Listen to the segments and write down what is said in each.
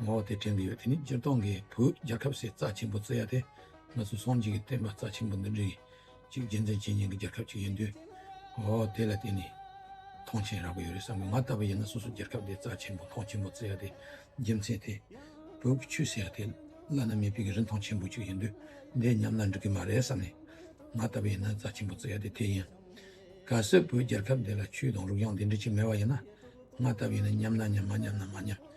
ངོ་བོ་དེ་དྲན་གྱི་ཡོད་དེ་ནི་སྤྱིར་བཏང་གི་བོད་རྒྱལ་ཁབ་སའི་རྩ་ཆེན་པོ་རྩི་ཡ་དེ་ང་ཚོ་སངས་རྒྱས་ཀྱི་བསྟན་པ་རྩ་ཆེན་པོ་འདི་འབྲི་གཅིག་རྒྱལ་མཚན་བྱེད་ཉན་གྱི་རྒྱལ་ཁབ་ཅིག་ཡིན་དུས། ངོ་བོ་དེ་ལ་བརྟེན་ནས་ཐང་ཆེན་རག་གི་ཡོད་རེད་བསམ་གི་ང་ལྟ་བུ་ཡིན་ན་སོ་སོ་རྒྱལ་ཁབ་དེའི་རྩ་ཆེན་པོ་ཐང་ཆེན་པོ་རྩི་ཡ་དེ་རྒྱལ་མཚན་དེ་བོད་ཀྱི་ཆུ་ཟེར་ཡ་དེ་བླ་ན་མེད་པའི་གི་རིན་ཐང་ཆེན་པོ་ཅིག་ཡིན་དུས་འདི་ཉམས་ན་འགྲིག་གི་མ་རེད་བསམ་ནས་ང་ལྟ་བུ་ཡིན་ན་རྩ་ཆེན་པོ་རྩི་ཡ་དེ་དེ་ཡིན། གལ་སྲིད་བོད་རྒྱལ་ཁབ་འདི་ལ་ཆུ་དང་རུག་གཡང་དེ་འདྲི་གཅིག་མེད་པ་ཡིན་ན་ང་ལྟ་བུ་ཡིན་ན་ཉམས་ན་ཉམས་མ་ཉམས་ན་མ་ཉམས།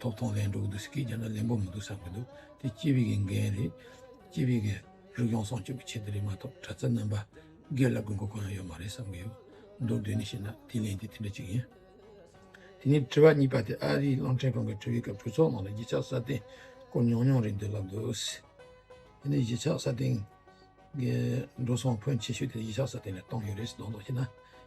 ཐོབ་ཐང་ལེན་འགྲོ་གི་འདུག་ཟེར་གི་རྒྱ་ནག་ལེན་པོ་མི་འདུག་བསམ་གི་འདུག་དེ་སྐྱིད་པའི་གི་འགན་རེད་སྐྱིད་པའི་གི་རིག་གཞུང་སྲོང་སྐྱོབ་ཀྱི་ཆེད་དུ་རེད་མ་ཐོབ་གྲྭ་ཚ་རྣམ་པ་སྒེར་ལ་དགོས་མཁོ་གང་ཡང་ཡོད་མ་རེད་བསམ་གི་ཡོད་འདུག་དོན་ནི་ཤེས་ན་དེ་ལན་དེ་དེ་འདྲ་ཅིག་ཡིན། དེ་ནས་དྲི་བ་གཉིས་པ་དེ་ཨ་རིའི་གླང་ཕྲན་གང་གི་ཁྲོད་ཡོད་ཀྱི་གྲོས་ཚོགས་ནང་ལ་གཞིས་ཆགས་སྲ་བརྟན་སྐོར་ཉུང་ཉུང་རེད་འདུག་ལབ་འདུག་དེ་ནས་གཞིས་ཆགས་སྲ་བརྟན་གི་འགྲོ་སོང་ཕོན་ཆེ་ཤོས་དེ་གཞིས་ཆགས་སྲ་བརྟན་ལས་བཏང་ཡོད་རེད་ཟེར་མདོག་མདོག་བྱས་ན།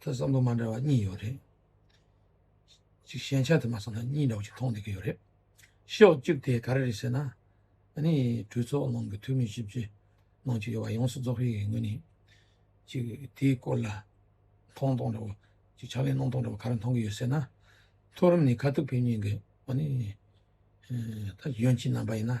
ཐོས་བསམ་བློ་མ་འདྲ་བ་གཉིས་ཡོད་རེད། གཅིག་ཞན་ཆ་དེ་མ་བསམ་ན་གཉིས་འདྲ་བོ་གཅིག་མཐོང་བསྡད་ཀྱི་ཡོད་རེད། ཤོག་བཅུག་དེ་ག་རེ་རེད་ཟེར་ན། ཨ་ནི་གྲོས་ཚོགས་ནང་གི་འཐུས་མི་བཞི་བཅུ་ནང་གཅིག་ཡོད་པ་ཡོངས་སུ་རྫོགས་རིགས་ཡིན་ངོས་ནས་གཅིག་དེའི་སྐོར་ལ་མཐོང་སྟངས་འདྲ་བོ་གཅིག་ཕྱག་ལེན་གནང་སྟངས་འདྲ་བོ་ག་རེ་མཐོང་གི་ཡོད་ཟེར་ན། མཐོ་རིམ་ནས་ཁ་ཐུག་ཕེབས་ཉིན་གྱི་ཨ་ནི་ད་གཞོན་སྐྱིད་རྣམ་པ་ཡིན་ན།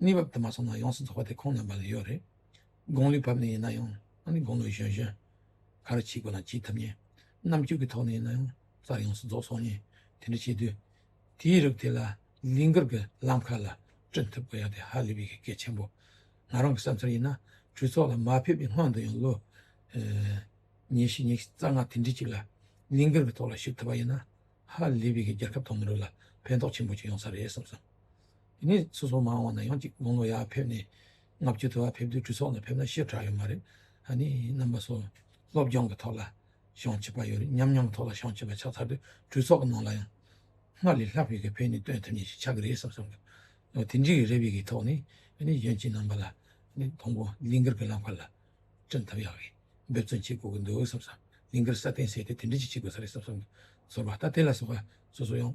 གནས་བབ་དུ་མ་སོང་ན་ཡོངས་སུ་རྫོགས་པ་དེ་ཁོང་རྣམ་པ་ལ་ཡོད་རེད། དགུང་ལོའི་བབ་ནས་ཡིན་ན་ཡང་ཨ་ནི་དགུང་ལོའི་གཞོན་གཞོན། ག་རེ་བྱེད་དགོས་ན་བྱེད་ཐུབ་ངེས། རྣམ་དཔྱོད་ཀྱི་ཐོག་ནས་ཡིན་ན་ཡང་གསར་ཡོངས་སུ་རྫོགས་སོང་ངེས། དེ་འདྲ་བྱེད་དུས། དེའི་རིགས་དེ་ལ་ལིང་གར་གྱི་ལམ་ཁ་ལ་བསྐྲུན་ཐུབ་དགོས་ཡ་དེ་ཧ་ལས་པའི་གི་གེ་ཆེན་པོ། ང་རང་གི་བསམ་ཚུལ་ཡིན་ན་གྲོས་ཚོགས་ལ་མ་ཕེབས་པའི་སྔོན་དུ་ཡང་ལོ། ཉེ་བཞི་ཉེ་རྩ་ལྔ་དེ་འདྲི་གཅིག་ལ་ལིང་གར་གྱི་ཐོག་ལ་ཞུགས་ཐུབ་པ་ཡིན་ན་ཧ་ལས་པའི་གི་རྒྱལ་ཁབ་དང་མི་རིགས་ལ་ཕན་ཐོགས་ཆེན་པོ་ཅིག་ཡོང་ས་རེད་བསམ་སོང། དེ་ནས་སོ་སོ་མ་འོངས་ན་ཡང་ཅིག་དགུང་ལོ་ཡར་ཕེབས་ནས་ལྔ་བཅུ་དུ་བ་ཕེབས་དུས་གྲོས་ཚོགས་ནས་ཕེབས་ན་ཤེས་གྲགས་ཡོད་མ་རེད། ཨ་ནི་རྣམ་པ་སོགས་སློབ་སྦྱོང་གི་ཐོག་ལ་ཤོང་བྱེད་པ་ཡོད་རེད་མཉམ་མྱོང་ཐོག་ལ་ཤོང་བྱེད་པ་ཆགས་ཚར་དུས་གྲོས་ཚོགས་ཀྱི་ནང་ལ་ཡང་སྔར་ལས་ལྷག་བོད་ཀྱི་ཕན་ནུས་སྟོན་ཐུབ་ངེས་ཤིག་ཆགས་ཀྱི་རེད་བསམ་བསམ་གྱི་འདུག་དེ་འདྲའི་རེ་བའི་གི་ཐོག་ནས་ཨ་ནི་གཞོན་སྐྱེས་རྣམ་པ་ལ་ཨ་ནི་དང་པོ་ལིང་གར་གྱི་བླ་མཁར་ལ་བཀྲིན་ཐབས་ཡག་གིས་འབད་བརྩོན་བྱེད་དགོས་ཀྱི་འདུག་བསམ་བསམ་ལིང་གར་ས་གཏན་བསྲེས་ཏེ་དེ་འདྲ་ཅིག་བྱེད་དགོས་ས་རེད་བསམ་བསམ་གྱི་ཚོར་བ་ལྟ་དེ་ལ་སོགས་པ་སོ་སོ་ཡང།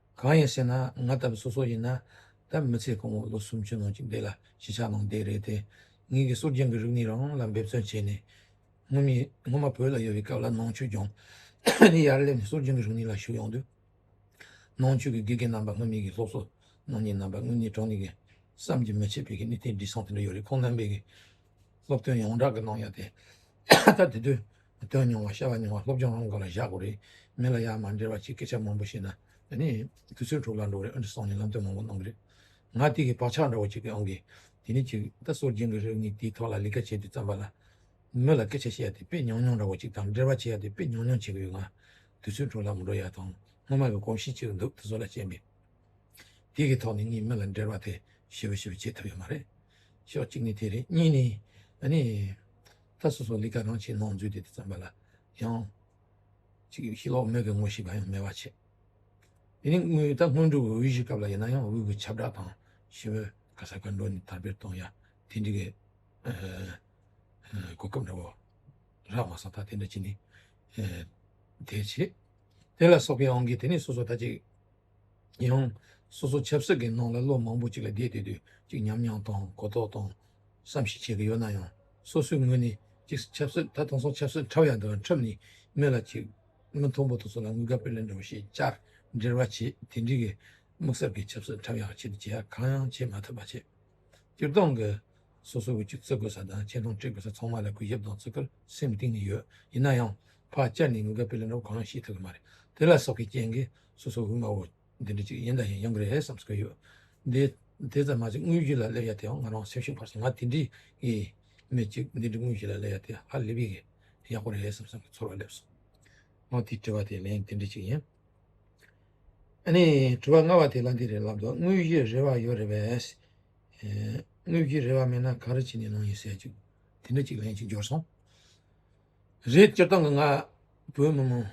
གང་ཡིན་ཟེར་ན་ང་ལྟ་བུ་སོ་སོ་ཡིན་ན་ད་མི་ཚེ་གང་བོར་ལོ་སུམ་ཅུ་ནང་གི་འདི་ལ་གཞིས་ཆགས་ནང་བསྡད་རེད་དེ། ངེད་ཀྱི་སོགས་རྒྱང་གི་རིག་གནས་རང་ལ་འབད་བརྩོན་བྱས་ནས། སྔོན་མི་སྔོན་མ་བོད་ལ་ཡོད་པའི་སྐབས་ལ་ནང་ཆོས་སྦྱོང། ནས་ཡར་སླེབས་ནས་སོགས་རྒྱང་གི་རིག་གནས་ལ་ཞུགས་ཡོང་དུས། ནང་ཆོས་ཀྱི་དགེ་རྒན་རྣམ་པ་སྔོན་མའི་གི་སློབ་གསོ་གནང་མཁན་རྣམ་པ་དངོས་གནས་དྲང་ནས་གི་བསམ་གྱི་མི་ཆད་པའི་གི་གནས་དེ་འདྲི་སང་དེ་འདྲ་ཡོད་རེད་ཁོང་རྣམ་པས་གི་སློབ་ཐུན་ཡོངས་གྲགས་ཀྱི་ནང་ཡོད་དེ། ད་དེ་དུས་སྟོན་མྱོང་བ་བཤད་པ་མྱོང་བ་སློབ་སྦྱོང་རང་གི་སྐོར་ལ་བཞག་དགོས་རེད། མི་ལ་ཡ་མ་འབྲེལ་བ་གཅིག་སྐད་ཆ་མང་པོ་བཤད་ན་དེ་ནི་དུས་ཚོད་འཕྲོ་བརླག་འགྲོ་རེད་ཨང་ཀྲི་སང་ནི་ལམ་སྟོན་མང་པོ་གནང་གི་རེད། ང་སྟེ་གི་བག་ཆགས་འདྲ་བོ་གཅིག་གི་ཨང་ཀི་དེ་ནི་གཅིག་ད་གསོ་སྦྱིན་གི་རིགས་གཉིས་དེའི་ཐོག་ལ་ལི་ཀ་བྱས་དུས་ཙམ་པ་ལ། མི་ལ་སྐད་ཆ་བཤད་ཡ་དེ་དཔེ་ཉུང་ཉུང་འདྲ་བོ་གཅིག་དང་འབྲེལ་བ་བྱེད་ཡ་དེ་དཔེ་ཉུང་ཉུང་བྱེད་གི་ཡོད་ང། དུས་ཚོད་འཕྲོ་བརླག་མི་འགྲོ་ཡ་དང་སྔོན་མ་གི་གོམས་གཤིས་གཅིག་འདུག་དེ་ཚོ་ལ་བྱས་མེད། དེ་གི་ཐོག་ནས་གཉིས་མི་ལ་འབྲེལ་བ་དེ་ཞི་བ་ཞི་བ་བྱེད་ཐུབ་ཡོད་མ་རེད། ཕྱོགས་གཅིག་ནས་དེ་རེད་གཉིས་ནས་ཨ་ནི། ད་སོ་སོ་ལི་ཀ་རང་ཆེད་ནང་འཛུལ་དེ་དེ་ཙམ་པ་ལ་ཡང། ཅིག་ཤི་ལོག་མེད་གི་ངོ་ཤེས་པ་ཡང་མེད་པ་ཆེ། དེ་ནི་དངོས་ད་དངོས་འབྲུག་གི་འོས་གཞི་སྐབས་ལ་ཡིན་ན་ཡང་འོས་གི་ཁྱབ་བསྒྲགས་དང་ཞི་བའི་ཁ་ས་ཁ་འགྲོ་ནས་དར་འཕེར་གཏོང་ཡ་དེ་འདྲི་གི་གོ་སྐབས་འདྲ་བོ་རག་མ་སོང་ད་དེ་འདྲ་བྱེད་ནི་དེ་བྱེད་དེ་ལ་སོགས་པའི་ཨང་གིས་དེ་ནི་སོ་སོ་ད་ཅིག་ཡང། སོ་སོ་ཆབ་སྲིད་ཀྱི་ནང་ལ་ལོ་མང་པོ་ཅིག་ལ་བསྡད་དུས་དུས་གཅིག་ཉམས་མྱོང་དང་གོ་རྟོགས་དང་བསམ་གཞིག་བྱེད་ཀྱི་ཡོད་ན་ཡང། སོ་སོའི་ངོས་ནས་གཅིག་ཆབ་སྲིད་ད་དེང་སང་ཆབ་སྲིད་འཁྲབ་ཡག་འདུག་ལ་འཁྲབ་ནས་མི་ལ་ཅིག་མི་མཐོང་པོ་དེ་ཚོ་ལ་ངུ་དགའ་པོས་ལེན་འགྲོ་ཞེས་བཅར་འདྲིར་བ་བྱེད་དེ་འདྲི་གི་དམིགས་བསལ་གྱི་ཆབ་སྲིད་འཁྲབ་ཡག་ཆེད་དུ་བྱེད་ཡག་གང་ཡང་བྱེད་མ་ཐུབ་པ་བྱེད། སྤྱིར་བཏང་གི། སོ་སོའི་འོས་གཅིག་བརྩི་དགོས་ས་དང་ཆེ་མཐོང་དཀྲི་དགོས་ས་ཚང་མ་ལ་གུས་ཞབས་དང་བརྩི་བཀུར་སེམས་གཏིང་ནས་ཡོད་ཡིན་ན་ཡང། ཕར་བཅར་ནས་ངུ་དགའ་པོས་ལེན་འགྲོ་བ་གང་ཡང་ཤེས་ཐུབ་ཀྱི་མ་རེད་དེ་ལ་སོགས་ཀྱི་རྐྱེན་གྱིས། སོ་སོ་འུར་མ་འོ། འདི་འདྲ་ཅིག་ཡིན་དང་ཡང་གི་རེད་བསམ་བསམ་གི་ཡོད། དེ་དེ་ཙམ་མ་ཟད་དངུལ་བཞི་ལ་སླེབས་ཡ་དེའང་ང་རང་སེམས་ཤུགས་འཕར་སོང་ང་དེ་འདྲའི་གི་མི་ཅིག་འདི་འདྲའི་དངུལ་བཞི་ལ་སླེབས་ཡ་དེ་ཧ་ལེབ་ཡི་གི་ཡག་པོ་རེད་བསམ་བསམ་གི་ཚོར་བ་སླེབས་སོང། ང་དེ་དྲི་བ་དེ་ལན་འདི་འདྲ་ཅིག་ཡིན། ཨ་ནི་དྲི་བ་ལྔ་བ་དེ་ལ་འདི་རེད་ལབ་འདུག་དངུལ་བཞི་རེ་བ་ཡོད་རེད་བས། དངུལ་བཞི་རེ་བ་མེད་ན་ག་རེ་བྱས་ནས་ནང་ཡིན་ཟེར་ཅིག་དེ་འདྲ་ཅིག་ལན་ཅིག་འབྱོར་སོང། རེད་སྤྱིར་བཏང་གི་ང་བོད་མི་མང་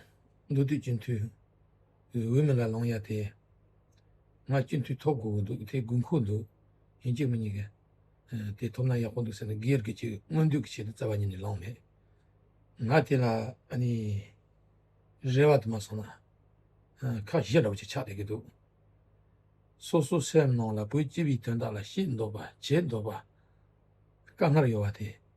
འདུག་དུས་སྤྱི་འཐུས་འོས་མི་ལ་ལོང་ཡ་དེ་ང་སྤྱི་འཐུས་ཐོབ་དགོས་འདུག་དེ་དགོས་མཁོ་འདུག་ཡིན་གཅིག་མིན་གཉིས་ཀ་དེ་ཐོབ་ན་ཡག་པོ་འདུག་ཟེར་ནས་སྒེར་གྱི་ཆེད་དངོས་འདུས་ཀྱི་ཆེད་དུ་བཙལ་བ་ཉིད་ནས་ལོང་མེད། ང་དེ་ལ་རེ་བ་དུ་མ་སོང་ན་ཁག་བཞི་འདྲ་པོ་ཆགས་བསྡད་ཀྱི་འདུག་སོ་སོ་སེམས་ནང་ལ་བོད་སྤྱི་བའི་དོན་དག་ལ་ཤེས་འདོད་པ་བྱེད་འདོད་པ་དཀའ་ངར་ཡོད་པ་དེ།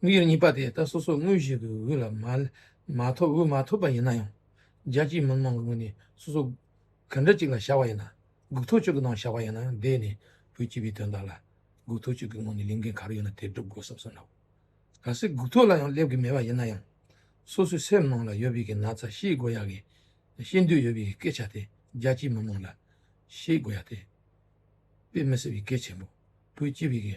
དངོས་ཡོད་གཉིས་པ་དེ་ད་སོ་སོ་དངོས་གཞི་གི་དབུས་ལ་མ་ཐོབ་འོས་མ་ཐོབ་པ་ཡིན་ན་ཡང། རྒྱལ་སྤྱིའི་མི་མང་གི་ངོས་ནས་སོ་སོ་ག་འདྲ་གཅིག་ལ་བྱ་བ་ཡིན་ན། སྒུག་ཐོ་གཅིག་གི་ནང་བྱ་བ་ཡིན་ན་ཡང་བསྡད་ནས་བོད་སྤྱི་པའི་དོན་དག་ལ། སྒུག་ཐོ་གཅིག་གི་ངང་ནས་ལས་འགན་ག་རེ་ཡོད་ན་དེ་སྒྲུབ་དགོས་བསམ་སོང་ལགས། གལ་སྲིད་སྒུག་ཐོ་ལ་ཡང་སླེབས་གི་མེད་པ་ཡིན་ན་ཡང། སོ་སོའི་སེམས་ནང་ལ་ཡོད་པའི་གི་ན་ཚ་ཤེས་དགོས་ཡག་གི། ཤེས་འདོད་ཡོད་པའི་སྐད་ཆ་དེ་རྒྱལ་སྤྱིའི་མི་མང་ལ། ཤེས་དགོས་ཡག་དེ། དཔེ་མི་སྲིད་པའི་གལ་ཆེན་པོ། བོད་སྤྱི་པའི་གི་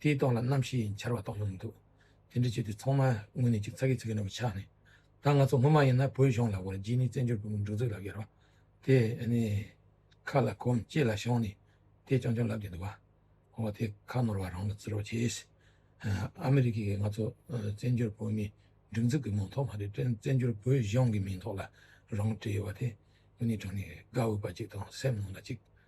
དེའི་ལྟོགས་ལ་རྣམ་ཤེས་ཡིན་འཆར་བ་ལྟོགས་ཡོང་མི་འདུག་དེ་འདྲ་བྱས་དུས་ཚང་མ་དངོས་གནས་ཅིག་ཚ་གི་ཚ་གི་ནོར་བུ་ཆགས་ནས་ད་ང་ཚོ་སྔོན་མ་ཡིན་ན་བོད་གཞུང་ལ་བར་རྗེས་ནས་བཙན་བྱོལ་བོད་མིའི་སྒྲོག་འཛུགས་ལབ་ཡོད་རོ། དེ་ནི་ཁ་ལ་གོམས་ལྕེ་ལ་ཤོང་ནས་དེ་ཆོང་ཆོང་ལབ་ཀྱི་འདུག་བ། འོ་དེ་ཁ་ནོར་བ་རང་ལ་བརྩི་རོགས་བྱས། ཨ་མི་རི་ཀས་ང་ཚོ་བཙན་བྱོལ་བོད་མིའི་སྒྲིག་འཛུགས་ཀྱི་མིང་ཐོག་མ་རེད་བཙན་བྱོལ་བོད་གཞུང་གི་མིང་ཐོག་ལ་རང་བྲིས་ཡོད་བ་དེ་དངོས་གནས་དྲང་ནས་དགའ་འོས་པ་ཅིག་དང་སེམས་ནང་ལ་ཅིག།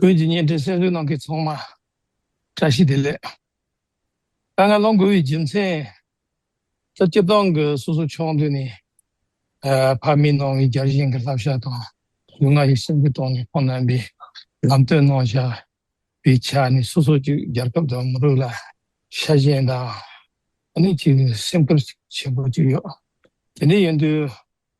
བོད་ཀྱི་བརྙན་འཕྲིན་སེམས་གསོའི་ནང་གི་ཚོང་མ་བཀྲ་ཤིས་བདེ་ལེགས། དཀའ་ངལ་སློང་དགོས་པའི་རྒྱུ་མཚན། ད་སྤྱིར་བཏང་གི་སོ་སོ་ཕྱོགས་འདི་ནས་ཕ་མའི་ནང་གི་བརྒྱ་བྱིན་གྱི་བསླབ་བྱ་དང་གཟུངས་སྔགས་ཀྱི་སེམས་ཁུར་དང་ཁོང་རྣམ་པའི་ལམ་སྟོན་གནང་བཞག་པའི་ཆ་ནས་སོ་སོ་ཅིག་རྒྱལ་ཁབ་དང་མི་རིགས་ལ་ཤ་ཞེན་དང། ཨ་ནི་ཅིག་སེམས་ཁུར་བྱེད་དགོས་ཀྱི་ཡོད། དེ་འདྲ་ཡིན་དུས།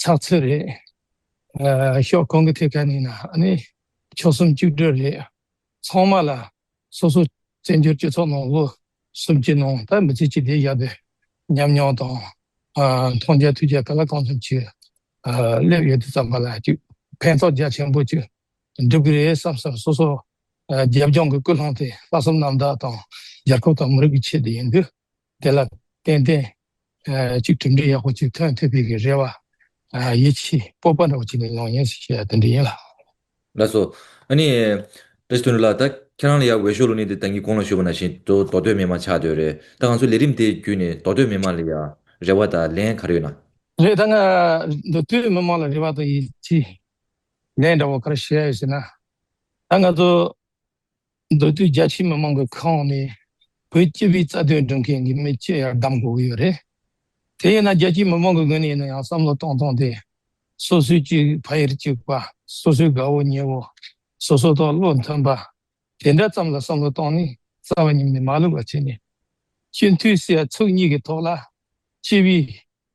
ཚགས་ཚུད་རེད། ཤོག་གོང་གི་ཐད་ཀ་ནས་ན་ནི་ཆོལ་གསུམ་བཅུ་དྲུག་རེད། ཚང་མ་ལ་སོ་སོ་བཙན་བྱོལ་སྤྱི་ཚོགས་ནང་ལོ་གསུམ་གྱི་ནང་ད་མི་ཚེ་གཅིག་དེ་བཞག་པའི་ཉམས་མྱོང་དང། མཐོང་རྒྱ་ཐོས་རྒྱ་ག་ལ་གང་ཐུབ་ཅིག་སླེབས་ཡོད་དེ་ཙམ་པ་ལ་ཅིག་ཕན་ཐོགས་རྒྱ་ཆེན་པོ་ཅིག་འགྲུབ་གི་རེད་བསམ་བསམ་སོ་སོ་རྒྱབ་ལྗོངས་ཀྱི་ཀུན་སློང་དེ་ལྷག་བསམ་རྣམ་དག་དང་རྒྱལ་ཁབ་དང་མི་རིགས་ཀྱི་ཆེད་དུ་ཡིན་དུས། དེ་ལ་བརྟེན་ཏེ། གཅིག་གྲུབ་འབྲས་ཡག་པོ་གཅིག་ཐོན་ཐུབ་པའི་གི་རེ་བ། ཡིད་ཆེས་སྤོབས་པ་འདྲ་བོ་གཅིག་ལ་ཡོང་ངེས་ཞེས་པ་དེ་འདྲ་ཡིན་ལ། ལགས་སོ། ཨ་ནི། རེས་དོན་འགྲུབ་ལགས་ད་ཁྱེད་རང་ལ་ཡག་འོས་ཤོག་ལུགས་ནི་དེ་ད་ངི་གོང་ལ་ཞུས་པ་ན་བཞིན་དུ་མདོ་སྟོད་མི་དམངས་ཆགས་སྡོད་རེད་ད་ང་ཚོ་ལས་རིམ་དེའི་བརྒྱུད་ནས་མདོ་སྟོད་མི་དམངས་ལ་ཡང་རེ་བ་དང་ལན་ག་རེ་ཡོད་ན། རེད་ད་ང་མདོ་སྟོད་མི་དམངས་ལ་རེ་བ་དང་ཡིད་ཆེས་ལན་འདྲ་བོ་ག་རེ་བྱས་ཡོད་ཟེར་ན། ད་ང་ཚོ། མདོ་སྟོད་རྒྱ་ཆེའི་མི་མང་གི་ཁོངས་ནས་བོད་སྤྱི་པའི་རྩ་དོན་སྒྲུབ་མཁན་གྱི་མི་སྤྱི་ཡར་བདམས་དགོས་ཀྱི་ཡོད་རེད། དེ་ཡིན་ན་རྒྱལ་སྤྱིའི་མི་མང་གི་ངོས་ནས་ཡིན་ན་ཡང་བསམ་བློ་གཏོང་གཏོང་སྟེ། སོ་སོའི་སྤྱི་ཕ་ཡུལ་གཅིག་པ། སོ་སོའི་དགའ་བོ་ཉེ་བོ། སོ་སོ་དང་བློ་མཐུན་པ། དེ་འདྲ་ཙམ་ལ་བསམ་བློ་གཏོང་ནས་རྩ་བ་ཉམས་ནས་མ་ལུས་པ་བྱས་ནས། སྤྱི་འཐུས་སྲས་ཚུགས་གཉིས་ཀྱི་ཐོག་ལ་སྤྱི་པའི།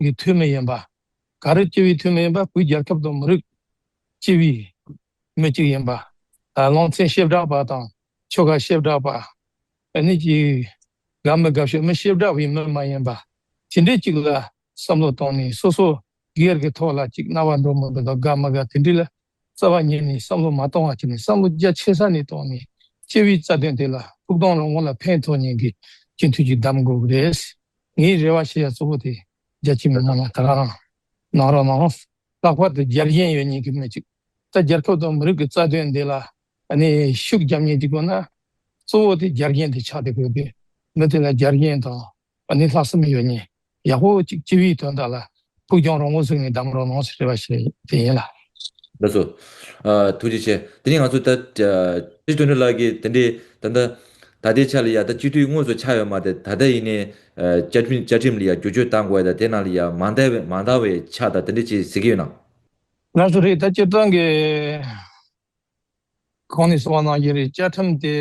གི་འཐུས་མི་ཡིན་པ། གངས་རི་སྤྱི་བའི་འཐུས་མི་ཡིན་པ་བོད་རྒྱལ་ཁབ་དང་མི་རིགས་སྤྱི་བའི་མི་གཅིག་ཡིན་པ། ལང་ཚན་ཞེ་དྲག་པ་དང་ཆོལ་ཁ་ཞེ་དྲག་པ། གནས་གཅིག་དགའ་མི་དགའ་ཤོད་མི་ཞེ་དྲག་པའི་མི་མ་ཡིན་པ། དེ་འདྲའི་གཅིག་ལ་བསམ་བློ་བཏང་ནས་སོ་སོ་སྒེར་གྱི་ཐོག་ལ་གཅིག་རྣ་བ་འདྲོག་མི་དགའ་དང་དགའ་མི་དགའ་དེ་འདྲའི་ལ་རྩ་བ་ཉིད་ནས་བསམ་བློ་མ་གཏོང་བར་བྱས་ནས་བསམ་བློ་རྒྱ་ཆེ་ས་ནས་གཏོང་ནས་སྤྱི་བའི་རྩ་དོན་དེ་ལ་ཐུགས་གཏོང་རོགས་ངོ་ལ་ཕན་ཐོགས་ཉེན་གྱི་སྤྱི་མཐུས་ཀྱི་གདམ་དགོས་ཀྱི་རེད། ངའི་རེ་བ་ཤེས་ཡ་གཙོ་བོ་དེ་རྒྱ་ཆེ་མི་དམངས་ལ་དགའ་རང་གནང་རོགས་གནང། ལྷག་པར་དུ་རྒྱལ་གཞན་ཡོད་ཉེན་གྱི་མི་གཅིག་ད་རྒྱལ་ཁབ་དང་མི་རིགས་ཀྱི་རྩ་དོན་དེ་ལ་ནི་ཤུགས་རྒྱབ་ཉེན་གྱི་དགོས་ན་གཙོ་བོ་དེ་རྒྱལ་གཞན་དེ་ཆགས་དེ་དགོས་གི་མི་དེ་ལ་རྒྱལ་གཞན་དང་བ་ནི་ལྷག་བསམ་ཡོད་ཉིད་ཡག་པོ་གཅིག་སྤྱི་བའི་དོན་དག་ལ་ཕུགས་རྒྱང་རོང་བོ་བཟུང་ནས་བསྡམས་རོགས་གནང་ཞེས་རེ་བ་བྱེད་ཀྱི་ཡིན་ལ། ད་གཟོད། ཐུགས་རྗེ་ཆེ། དེ་ནི་ང་ཚོ་ད། ཁྲི་སྟོན་འགྲོ་ལགས་ཀྱི་དེ་འདྲའི་ད་ལྟ། ད་ལྟའི་ཆ་ལ་ཡང་ད་སྤྱི་འཐུས་དངོས་སུ་ཆགས་ཡོད་མ་སྟེ་ད་ལྟ་ཡིན་ནའི། བཅའ་ཁྲིམས་ལ་ཡང་བསྒྱུར་བཅོས་གཏང་དགོས་ད་དེ་ནང་ལ་ཡང་མ་འདང་བའི་ཆ་ད་དེ་འདྲའི་ཅི་ཟེར་གྱི་ཡོད་ན། ང་སུ་རེད་ད་སྤྱིར་བཏང་གི། གང་ནས་སོང་བ་ནང་བཞིན་རེད་བཅའ་ཁྲིམས་དེ་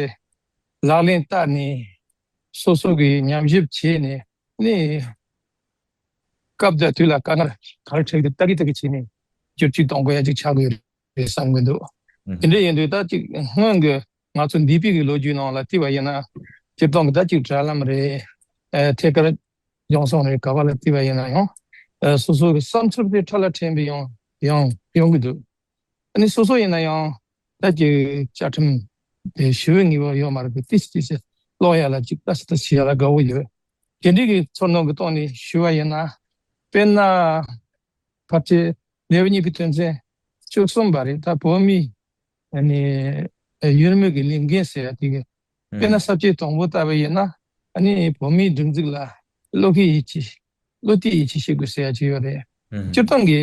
ལག་ལེན་བསྟར་ནས་སོ་སོ་གིས་ཉམས་ཞིབ་བྱས་ནས་གནས་སྐབས་དེ་དུས་ལ་དཀའ་ངལ་ག་རེ་འཕྲད་ཀྱི་ལྟ་གི་ལྟ་གི་བྱས་ནས་བསྒྱུར་བཅོས་གཏོང་ག་ཡ་གཅིག་བྱ་དགོས་རེད་བསམ་གི་འདུག་དེ་འདྲ་ཡིན་དུས་ཟླ་གཅིག་སྔོན་གྱི་ང་ཚོ་འདས་པའི་གི་ལོ་རྒྱུས་ནང་ལ་བལྟས་པ་ཡིན་ན་སྤྱིར་བཏང་གི་ཟླ་གཅིག་དྲ་ལམ་རེད་ཐད་ཀར་ཡོང་སོང་རེད་ག་པ་ལ་བལྟས་པ་ཡིན་ན་ཡང་སོ་སོ་གི་བསམ་ཚུལ་དེ་ཕྲ་ལ་ཕྲན་བུ་ཡང་ཡོང་གི་འདུག། ནི་སོ་སོ་ཡིན་ན་ཡང། ལྷད་ཀྱི་བཅའ་ཁྲིམས་དེ་ཞི་བའི་ངེས་པ་ཡོད་མ་རེད་པས་ཏིས་ཏིས་སུ་ཀློག་ཡ་ལ་ཅིག་ལྟ་ཞིག་ལྟ་ཞིག་བྱེད་ཡ་ལ་དགའ་བོ་ཡོད། དགེ་འདུན་གྱི་ཚོར་སྣང་གི་ཐོག་ནས་ཞུས་བ་ཡིན་ན། དཔེར་ན། བར་ཆད་ལེའུ་གཉིས་པའི་དོན་ཚན་བཅུ་གསུམ་པ་རེད་ད་བོད་མིའི། ནི། ཡུལ་དམུས་ཀྱི་ལས་འགན་ཟེར་ཡ་དེ། དཔེར་ན་གསར་བརྗེའི་དང་པོ་ལྟ་བུ་ཡིན་ན། ནི་བོད་མིའི་སྒྲིག་འཛུགས་ལ་བློ་ཁེལ་ཡིད་ཆེས། བློ་གཏད་ཡིད་ཆེས་བྱེད་དགོས་ཟེར་ཡ་ཅིག་ཡོད་རེད། སྤྱིར་བཏང་གི།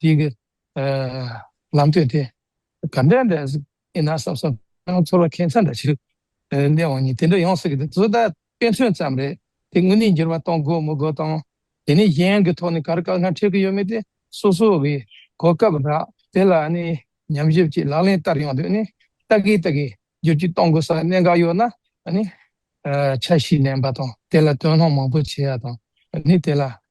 དེ་གི་ལམ་སྟོན་དེ་ག་འདྲ་འདྲ་ཡིན་ན་བསམ་བསམ་ནང་ཚོར་བ་ཁེ་མཚར་འདྲ་ཞིག་གླེང་བ་ནི་དེ་འདྲ་ཡོང་སྲིད་ཀྱི་འདུག་བཟོ་ལྟ་དཔེ་མཚོན་ཙམ་རེད་དེ་དངོས་གནས་འགྱུར་བ་གཏོང་དགོས་མི་དགོས་དང་དེ་ནས་གཞན་གྱི་ཐོག་ནས་གར་དཀའ་ངལ་འཕྲད་ཀྱི་ཡོད་མེད་དེ་སོ་སོ་གི་གོ་སྐབས་རག་དེ་ལ་ནི་ཉམས་ཞིབ་ཀྱིས་ལག་ལེན་བསྟར་ཡོང་དུས་ནི་ལྟ་གི་ལྟ་གི་བསྒྱུར་བཅོས་གཏོང་དགོས་ས་གནད་འགག་ཡོད་ནའང་ནི། འཆར་གཞི་ལེན་པ་དང་དེ་ལ་དོན་སློང་མང་པོ་བྱེད་ཡག་དང་ནི་དེ་ལ་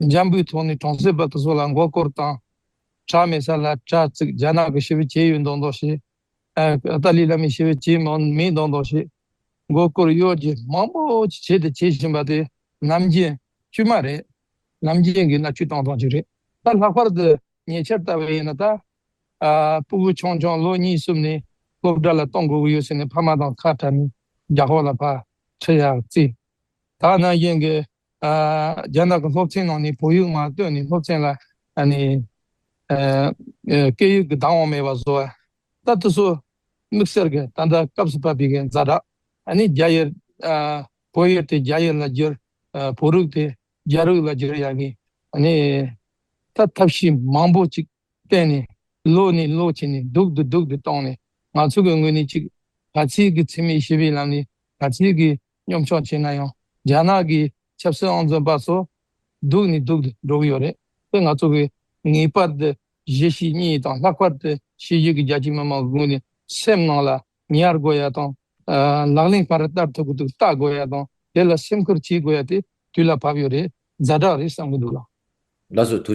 འཇམ་པོའི་ཐོག་ནས་གྲོང་གསེབ་པ་དེ་ཚོ་ལ་མགོ་སྐོར་བཏང། བྲག་མེད་ས་ལ་དྲ་བཙུགས་རྒྱ་ནག་གི་ཤི་བོ་བྱེད་ཡོད་མདོག་མདོག་བྱས། ཏཱ་ལི་བླ་མས་ཤི་བོ་བྱེད་མེད་མདོག་མདོག་བྱས། མགོ་སྐོར་གཡོ་སྒྱུ་མང་པོ་ཅི་བྱེད་དེ་བྱེད་བཞིན་པ་དེ་ནམ་རྒྱུན་དཀྱུས་མ་རེད། ནམ་རྒྱུན་གྱི་ན་དཀྱུས་སྟོང་སྟོང་ཅིག་རེད། ད་ལྷག་པར་དུ་ཉེ་ཆར་ལྟ་བུ་ཡིན་ན་ད། སྤུ་བོ་ཆུང་ཆུང་ལོ་གཉིས་གསུམ་ནས་སློབ་གྲྭ་ལ་གཏོང་དགོས་ཀྱི་ཡོད་ཟེར་ནས་ཕ་མ་དང་ཁ་བྲལ་ནས་རྒྱ་ཧོར་ལ་ཕར་ཁྲིད་ཡག་བརྩིས། ད་ནམ་རྒྱུན་གྱི་རྒྱ་ནག་གི་སློབ་ཆེན་ནང་ནས་བོད་ཡིག་མ་བཏོན་ནས་སློབ་ཆེན་ལ་སྐད་ཡིག་གི་བདག་དབང་མེད་པ་བཟོ་བ། ད་དུ་སུ་དམིགས་བསལ་གྱིས་ད་ལྟ་སྐབས་སུ་བབས་པའི་གི་མཛའ་གྲགས་ནི་རྒྱ་ཡིག་བོད་ཡིག་དེ་རྒྱ་ཡིག་ལ་བསྒྱུར། བོད་རིགས་དེ་རྒྱ་རིགས་ལ་བསྒྱུར་ཡ་གི་ད་ཐབས་ཤེས་མང་པོ་ཅིག་བསྟན་ནས་ལོག་ནས་ལོག་བྱས་ནས་སྡུག་དུ་སྡུག་དུ་བཏང་ནས་ང་ཚོ་གི་ངོས་ནས་ཅིག་ག་ཚིག་གི་འཚེ་མེད་ཞི་བའི་ལམ་ནས་ག་ཚིག་གི་སྙོམས་ཆུང་བྱས་ན་ཡང་རྒྱ་ནག་གི་ཆབ་སྲིད་ཨང་རྩོན་པ་ཚོ་སྡུག་ནི་སྡུག་ཏུ་འགྲོ་གི་ཡོད་རེད་དེ་ང་ཚོ་གིས་ངེས་པར་དུ་གཞི་ཞིག་གཉིས་དང་ལྷག་པར་དུ་ཕྱི་རྒྱལ་གྱི་རྒྱ་ཆེའི་མི་མང་གི་ངོས་ནས་སེམས་ནང་ལ་ཉར་དགོས་ཡ་དང། ལག་ལེན་ག་རེ་བསྟར་ཐུབ་ཀྱི་འདུག་བལྟ་དགོས་ཡ་དང་དེ་ལ་སེམས་ཁུར་བྱེད་དགོས་ཡ་དེ་དུས་ལ་བབ་ཡོད་རེད་རྫ་དྲག་རེད་བསམ་གྱི་འདུག་ལགས། ལགས་སོ།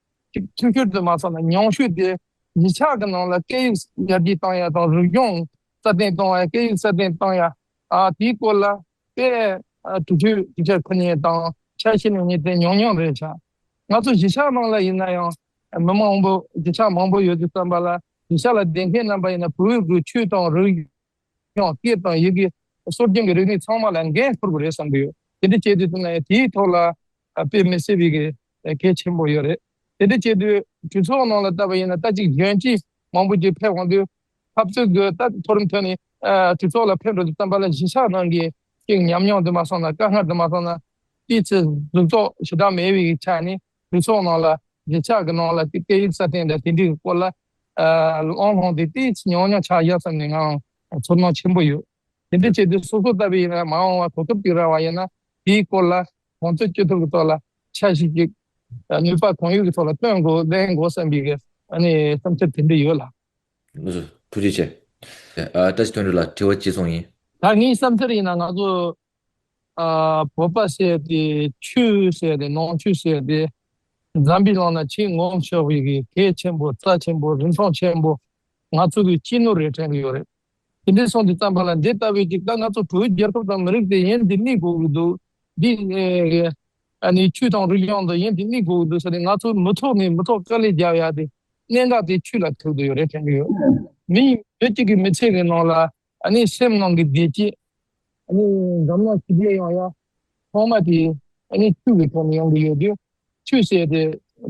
ཐུན་ཁུར་དུ་མ་སོང་ན་ཉུང་ཤོས་དེ་གཞིས་ཆགས་ཀྱི་ནང་ལ་སྐད་ཡིག་ཡར་རྒྱས་གཏང་ཡ་དང་རིག་གཞུང་སྲ་བརྟན་གཏོང་བའི་སྐད་ཡིག་སྲ་བརྟན་གཏང་ཡ། དེའི་སྐོར་ལ་པའི་དུས་ཚོད་དུས་ཆ་ཁོ་ནའི་དང་ཆ་ཤས་ནས་ངས་དེ་ཉུང་ཉུང་རེད་བྱ། ང་ཚོ་གཞིས་ཆགས་ནང་ལ་ཡིན་ན་ཡང་མི་མང་པོ་གཞིས་ཆགས་མང་པོ་ཡོད་དུས་བསམ་པ་ལ་གཞིས་ཆགས་ལ་བསྡད་མཁན་རྣམ་པ་ཡིན་ན་བོད་དགུ་ཆོས་དང་རིག་ཡང་སྐད་དང་ཡི་གེ། སྲོལ་རྒྱུན་གྱི་རིག་གནས་ཚང་མ་ལ་འགན་འཁུར་དགོས་རེད་བསམ་གྱི་ཡོད། དེ་འདྲ་བྱས་དུས་དེ་ནས་དེའི་ཐོག་ལ་དཔེ་མི་སྲིད་པའི་གལ་ཆེན་པོ་ཡོད་རེད། དེ་འདྲ་བྱས་དུས་གྲོས་ཚོགས་ནང་ལ་ལྟ་བ་ཡིན་ན་ལྟ་གཅིག་གཞོན་གཅིག་མང་པོ་ཞིག་ཕེབས་འོང་དུས། འཐབ་རྩོད་དགོས་ལྟ་མཐོ་རིམ་ཐོན་ནས་གྲོས་ཚོགས་ལ་ཕེབས་འགྲོ་དུས་རྩམ་པ་ལ་གཞི་ཆགས་ནང་གི་ཤིག་ཉམས་མྱོང་དུ་མ་སོང་ན་དཀའ་ངལ་དུ་མ་སོང་ན། དེའི་ཚེ་གཟུགས་རྟོག་ཞེ་དྲག་མེད་པའི་ཆ་ནས་གྲོས་ཚོགས་ནང་ལ་གཞིས་ཆགས་ཀྱི་ནང་ལ་དེའི་སྐད་ཡིག་སྲ་བརྟན་དང་ཞིབ་འབྲི་གི་སྐོར་ལ་གླེང་སློང་དེ་དེའི་ཉག་ཉོག་ཆགས་བཞག་ཙམ་ནས་ངའང་ཚོར་སྣང་ཆེན་པོ་ཡོད། དེ་འདྲའི་བྱེད་དུས་སོ་སོ་ལྟ་བུའི་ཡིན་ན་མ་འོངས་བར་གོ་སྐབས་ཅིག་རག་བ་ཡིན་ན་དེའི་སྐོར་ལ་གོང་ཚོད་སྐྱོད་ཐུབ་པའི་ཐོག་ལ་འཆར་གཞི་གཅིག་ནུས་པ་གང་ཡོད་ཀྱི་ཐོག་ལ་བཏོན་དགོས་གླེང་དགོས་བསམ་པའི་བསམ་འཆར་དེ་འདྲ་ཡོད་ལགས། ངོ་སོ། ཐུགས་རྗེ་ཆེ། བཀྲ་ཤིས་དོན་འགྲུབ་ལགས་དྲི་བ་གཅིག་མཚུངས་ཡིན། ད་ངའི་བསམ་འཆར་ཡིན་ན་ང་ཚོ་བོད་པ་བསད་དེ་ཆུ་བསད་དེ་ནང་ཆུ་བསད་དེ། འཛམ་བུའི་ལང་ན་ཆེས་ངོམ་ཤོག་བྷི་གི་གད་ཆེན་པོ་རྩ་ཆེན་པོ་རིན་ཐང་ཆེན་པོ་ང་ཚོ་གི་སྐྱི་ནུ་རེད་དྲན་གི་ཡོད་རེད་དེ་འདྲས་སོང་དེ་ཙམ་པ་ལ་འདི་ལྟ་བུའི་ཅིག་ད་ང་ཚོ་བོད་རྒྱལ་ཁབ་དང་མི་རིགས་དེ་ཡིན་དེ་དམིགས་དགོས་གི་འདུག་འདི་ནི་ཆུ་དང་རུས་རྒྱང་དེ་ཡིན་དེ་དམིགས་དགོས་གི་འདུག་ས་དེ་ང་ཚོ་མི་ཐོག་ནས་མི་ཐོག་དཀའ་ལས་རྒྱབ་ཡ་དེ་གནད་འགག་དེ་ཆུ་ལ་ཐུག་དུ་ཡོད་རེད་དྲན་གི་ཡོད་མི་ཡིན་བོད་ཅིག་གི་མི་ཚེ་གི་ནང་ལ་ཨ་ནི་སེམས་ནང་གི་བདེ་སྐྱིད། ཨ་ནི་འཛམ་གླིང་ཞི་བདེ་ཡོང་ཡ། ཐོག་མ་དེ་ཨ་ནི་ཆུ་གི་ཐོག་ནས་ཡོང་གི་ཡོད་དུས། ཆུ་བསད་དེ་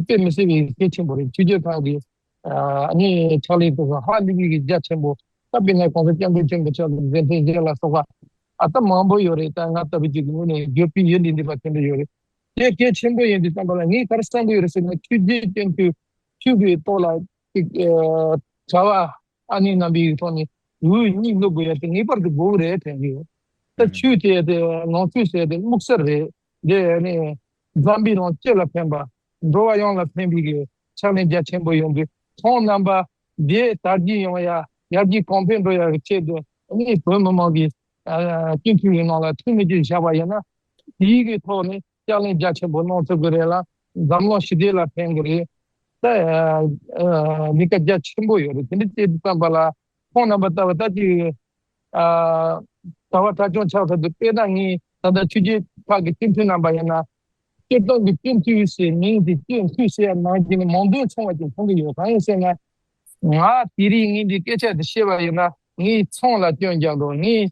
དཔེ་མི་སྲིད་པའི་ཡི་གེ་ཆེན་པོ་རེད་ཆུ་རྒྱལ་ཁག་གི་ཨ་ནི་ཕྱག་ལས་སྐོར་ཧ་ལི་བི་གི་རྒྱ་ཆེན་པོ་ད་པེ་ན་གོང་ས་སྐྱབས་མགོན་ཆེན་པོ་ཕྱག་ལས་མཛད་མཁན་རྒྱལ་ལ་སོགས་པ་ཨ་ད་མང་པོ་ཡོད་རེད་ད་ང་ལྟ་བུ་ཅིག་གི་ངོས་ནས་བརྗོད་ཕིན་ཡུལ་འདི་འདི་པ་ཆེན་པོ་ཡོད་རེད་དེ་གལ་ཆེན་པོ་ཡིན་དུས་བསམ་པ་ལ་ངས་ག་རེ་བསམ་གི་ཡོད་རེད་ཟེར་ན་ཆུ་རྒྱལ་བསྟེན་དུས་ཆུ་གི་ཏོག་ལ། ཅིག། བྱ་བ་ཨ་ནེ་རྣམ་པའི་ཐོག་ནས་འུ་གཉིས་སློབ་དགོས་ཡ་དེ་ངེས་པར་དུ་དགོས་རེད་དྲན་གི་ཡོད། ད་ཆུའི་དེ་དེ་ནང་ཆུ་ཟེར་དེ་སྨུག་སར་རེད་དེ་ཨ་ནེ་འཛམ་བུའི་ནང་སྤྱི་ལ་ཕན་པ་འགྲོ་བ་ཡོངས་ལ་ཕན་པའི་གི་ཕྱག་ལེན་རྒྱ་ཆེན་པོ་ཡོང་གི་ཐོང་རྣམ་པ་དེ་དར་རྒྱས་ཡོང་ཡ་ཡར་རྒྱས་གོང་འཕེལ་འགྲོ་ཡ་གི་ཆེད་དུ་ཨ་ནེ་བོད་མི་མང་གི་སྤྱི་འཐུས་ཡི་ནང་ལ་འཐུས་མི་གཅིག་བཞག་པ་ཡིན་ན་དེའི་གི་ཐོག་ནས་ཕྱག་ལེན་རྒྱ་ཆེན་པོ་གནང་ཐུབ་ཀྱི་རེད་ལ་འཛམ་གླིང་ཞི་བདེ་ལ་ཕན་གྱི་རེད། ལས་ཀ་རྒྱ་ཆེན་པོ་ཡོད་རེད་དེ་འདྲའི་བཅས་བསམ་པ་ལ་ཁོང་རྣམ་པ་ལྟ་བུ་ད་ཅིག་གྲྭ་བ་གྲྭ་ཆུང་ཆགས་ཐུབ་དུས་དཔེ་ན་ངས་ད་ལྟ་ཆོས་རྗེ་ཁག་གི་སྤྱི་འཐུས་རྣམ་པ་ཡིན་ན། སྤྱིར་བཏང་གི་སྤྱི་འཐུས་ཞེས་མིང་དེ་སྤྱི་འཐུས་ཞེས་ནང་བཞིན་ནས་མང་དོན་ཆུང་བ་ཅིག་མཐོང་གི་ཡོད་གང་ཡིན་ཟེར་ན། ང་དེ་རིང་ངས་འདི་སྐད་ཆ་འདི་བཤད་པ་ཡིན་ན་ངའི་མཚང་ལ་སྐྱོན་རྒྱག་འགྲོ་ངས་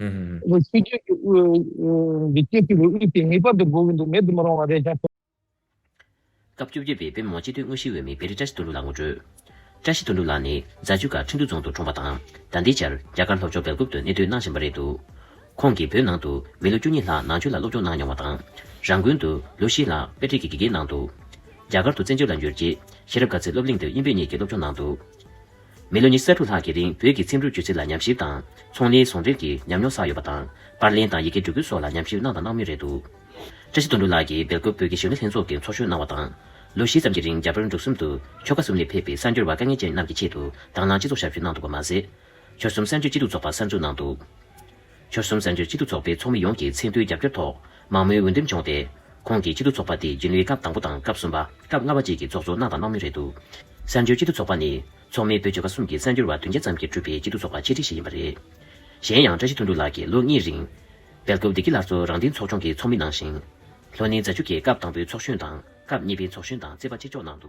ཧཧཧཧ། ཨོ་ཆོས་རྒྱལ་གྱི་དབུས། འདི་སྐད་ཅེས་པའི་དབུས་དེ་ངེས་པར་དུ་དགོས་ཀྱི་འདུག་མེད་དུ་མི་རུང་བ་རེད་ཀྱང། སྐབས་བཅོ་བརྒྱད་པའི་དཔོན་མོ་སྤྱི་འཐུས་དངོས་གཞིའི་འོས་མི་བེ་རི་བཀྲ་ཤིས་དོན་གྲུབ་ལགས་ངོ་སྤྲོད། བཀྲ་ཤིས་དོན་གྲུབ་ལགས་ནི་རྫ་ཆུ་ཁ་ཁྲིན་ཏུའུ་རྫོང་དུ་གྲོངས་པ་དང། ཟླ་འདིའི་ཆར་རྒྱ་གར་ལྷོ་ཕྱོགས་སྦེལ་ཀོབ་ཏུ་གནས་སྡོད་གནང་བཞིན་པ་རེད་འདུག་ཁོང་གིས་བོད་ནང་དུ་མི་ལོ་བཅུ་གཉིས་ལྷག་ནང་ཆོས་ལ་སློབ་སྦྱོང་གནང་མྱོང་བ་དང། རང་དགོན་དུ་ལོ་བཞི་ལྷག་དཔེ་ཁྲིད་ཀྱི་དགེ་རྒན་གནང་འདུག་རྒྱ་གར་དུ་བཙན་བྱོལ་ལ་འབྱོར་རྗེས་ཤེས་རབ་དཀའ་ཚེ་སློབ་གླིང་དུ་དབྱིན་བོད་གཉིས་ཀྱི་སློབ་སྦྱོང་གནང་འདུག། མི་ལོ་ཉི་ས་དྲུག་ལྷག་གི་རིང་བོད་ཀྱི་ཚིག་འབྲུ་སྒྱུ་རྩལ་ལ་ཉམས་ཞིབ་དང། ཚོང་ལས་ཟོང་འགྲེམས་ཀྱི་ཉམས་མྱོང་བསགས་ཡོད་པ་དང། པར་ལེན་དང་ཡི་གེ་འབྲི་ཁུལ་སོགས་ལ་ཉམས་ཞིབ་གནང་དང་གནང་མུས་རེད་འདུག། བཀྲ་ཤིས་དོན་འགྲུབ་ལགས་ཀྱིས་སྦེལ་ཀོབ་བོད་ཀྱི་ཞིང་ལས་ལྷན་ཚོགས་ཀྱི་ཚོགས་གཞོན་གནང་བ་དང། ལོ་བཞི་ཙམ་གྱི་རིང་རྒྱ་བལ་འབྲུག་གསུམ་དུ་ཆོལ་ཁ་གསུམ་ལས་ཕེབས་པའི་གསར་འབྱོར་བ་དཀའ་ངལ་ཅན་རྣམས་ཀྱི་ཆེད་དུ་དྭང་བླངས་སྤྱི་ཚོགས་ཞབས་ཞུ་གནང་འདུག་པ་མ་ཟད། ཆོལ་གསུམ་གསར་འབྱོར་སྐྱིད་སྡུག་ཚོགས་པ་གསར་འཛུགས་གནང་འདུག། ཆོལ་གསུམ་བཙན་བྱོལ་སྤྱི་འཐུས་ཚོགས་པའི་ཚོགས་མི་ཡོངས་ཀྱི་ཚད་མཐོའི་རྒྱབ་སྐྱོར་ཐོག་མང་མོས་འོས་འདེམས་བྱུང་སྟེ། ཁོང་གིས་སྤྱི་འཐུས་ཚོགས་པ་དེ་རྒྱུན་ལས་སྐབས་དང་པོ་དང་སྐབས་གསུམ་པ། སྐབས་ལྔ་བ་བཅས་ཀྱི་ཚོགས་གཙོ་གནང་དང་གནང་མུས་རེད་འདུག་བཙན་བྱོལ་སྤྱི་འཐུས་ཚོགས་པ་ནི། ཚོགས་མི་བོད་ཆོལ་ཁ་གསུམ་གྱི་གསར་འགྱུར་བ་བདུན་བརྒྱ་ཙམ་གྱིས་གྲུབ་པའི་སྤྱི་འཐུས་ཚོགས་པ་ཆེ་ཁྲི་ཞིག་ཡིན་པ་རེད། གཞན་ཡང་བཀྲ་ཤིས་ཐུང་ཐུང་ལགས་ཀྱིས་ལོ་གཉིས་རིང། སྦེལ་ཀོབ་བདེ་སྐྱིད་ལྷ་གཙོ་རང་བསྟེན་ཚོགས་ཆུང་གི་ཚོགས་མི་གནང་ཞིང། ལྷོ་ནི་རྫ་ཆུ་ཁའི་སྐབས་དང་པོའི་ཚོགས་གཞོན་དང་སྐབས་གཉིས་པའི་ཚོགས་གཞོན་དང་རྩེ་པ་གཅིག་ལྕོགས་གནང་འདུག།